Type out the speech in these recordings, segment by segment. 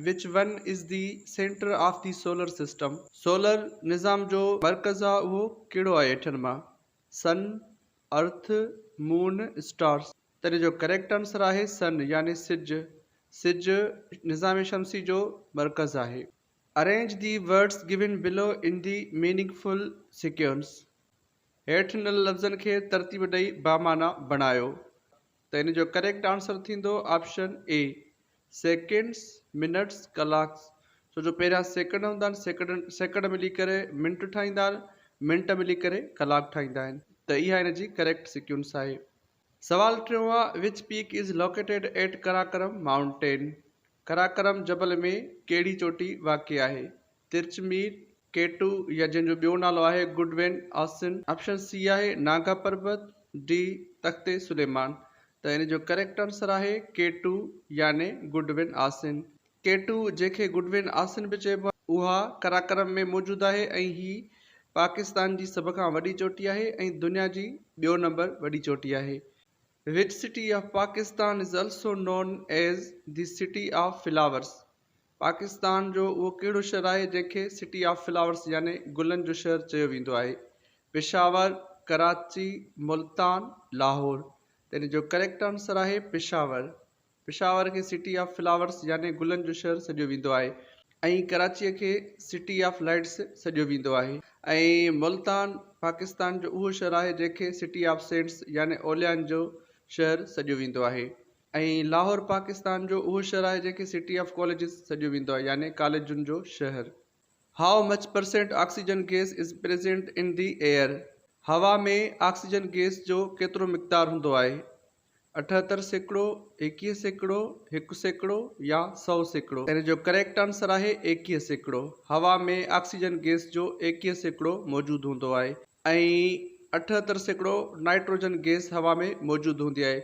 Which one is the centre of the solar system. Solar نظام جو مرڪز آ اهو ڪهڙو آهي اٺن مان؟ سن، ارٿ، مون، اسٽارس. تڏهن جو ڪريڪٽ آنسر آهي سن يعني سج. سج نظام شمسي جو مرڪز آهي. Arrange the words given below in the meaningful sequence هيٺ ڏنل لفظن کي ترتيب ڏئي بامعنيٰ بڻايو. ته ان جو ڪريڪٽ آنسر ٿيندو آپشن اي سيڪنڊس، منٽس، ڪلاڪس ڇو جو پهريان سيڪنڊ هوندا آهن سيڪنڊ سيڪنڊ ملي ڪري منٽ ٺاهيندا آهن منٽ ملي ڪري ڪلاڪ ٺاهيندا آهن ته اها ان جي ڪريڪٽ سيڪيونس آهي. سوال ٽيون آهي which peak is located at Karakoram mountain Karakoram جبل ۾ ڪهڙي چوٽي واقع آهي؟ ترچمير، ڪي ٽو يا جنهن جو ٻيو نالو آهي گڊ وين آسن. آپشن سي آهي ناگا پربت، ڊي تخت سليمان ته ان جو ڪريڪٽ آنسر آهي ڪي ٽو يعني Godwin Austen. K two جنهن کي گڊ وين آسن به چئبو آهي اها قراقرم ۾ موجود آهي ۽ هي پاڪستان جي سڀ کان وڏي چوٽي آهي ۽ دنيا جي ٻيو نمبر وڏي چوٽي آهي. Which city of Pakistan is also known as the city of flowers Pakistan جو اهو ڪهڙو شھر آهي جنهن کي سٽي آف فلاورس يعني گلن جو شهر چيو ويندو آهي؟ پشاور، ڪراچي، ملتان، لاهور. يعني جو ڪريڪٽ آنسر آهي پشاور. پشاور کي سٽي آف فلاورس يعني گلن جو شهر سڏيو ويندو آهي ۽ ڪراچيء کي سٽي آف لائيٽس سڏيو ويندو آهي. ۽ ملتان پاڪستان جو اهو شھر آهي جنهن کي سٽي آف سينٽس يعني اوليائن جو شهر سڏيو ويندو آهي. ۽ لاهور پاڪستان جو اهو شھر آهي جنهن کي سٽي آف ڪاليجز سڏيو ويندو آهي يعني ڪاليجن جو شهر. How much percent oxygen gas is present in the air هوا ۾ آڪسيجن گيس جو ڪيترو مقدار هوندو آهي اٺهتر سيڪڙو ايڪيهه سيڪڙو هڪ سيڪڙو يا سؤ سيڪڙو ان جو ڪريڪٽ آنسر آهي ايڪيهه سيڪڙو هوا ۾ آڪسيجن گيس جو ايڪيهه سيڪڙو موجود هوندو آهي ۽ اٺهتر سيڪڙو نائٽروجن گيس هوا ۾ موجود هوندي آهي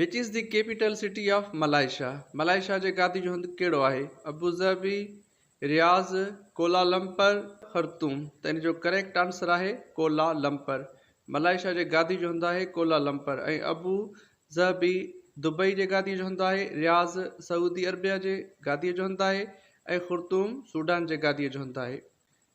Which is the capital city of Malaysia؟ Malaysia جي گادي جو هنڌ ڪهڙو آهي؟ ابوظهبي، رياض، ڪولالمپر، خرطوم ته ان جو ڪريڪٽ آنسر آهي ڪولالمپر. ملائيشيا جي گادي جو هنڌ آهي ڪولالمپر ۽ ابو ظهبي دبئي جي گادي جو هنڌ آهي، رياض سعودي عربيه جي گادي جو هنڌ آهي ۽ خرطوم سوڊان جي گادي جو هنڌ آهي.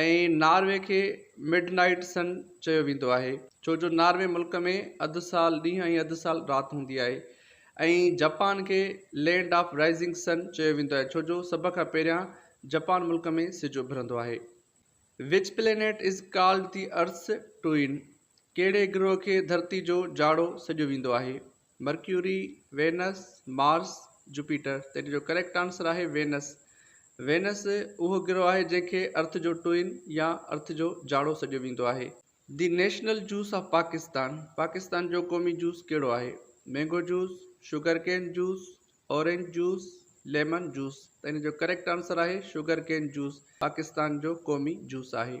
۽ ناروي کي مڊ نائيٽ سن چيو ويندو آهي ڇو جو ناروي ملڪ ۾ اڌ سال ڏينهن ۽ اڌ سال رات هوندي آهي ۽ جپان کي لينڊ آف رائيزنگ سن چيو ويندو آهي ڇو جو سڀ کان پهريان جپان ملڪ ۾ سج اڀرندو آهي. Which planet is called the earth's twin ڪهڙي گروهه کي ڌرتي جو جاڙو سڏيو ويندو آهي؟ مرڪيوري، وينس، مارس، جوپيٽر، تنهن جو ڪريڪٽ آنسر آهي وينس. وينس اهو گرهه آهي جنهن کي ارٿ جو ٽوئن يا ارٿ جو جاڙو سڏيو ويندو آهي. The national juice of Pakistan, Pakistan جو قومي جوس ڪهڙو آهي؟ Mango juice, sugar cane juice, orange juice, lemon juice, تنهن جو ڪريڪٽ آنسر آهي شوگر ڪين جوس، پاڪستان جو قومي جوس آهي.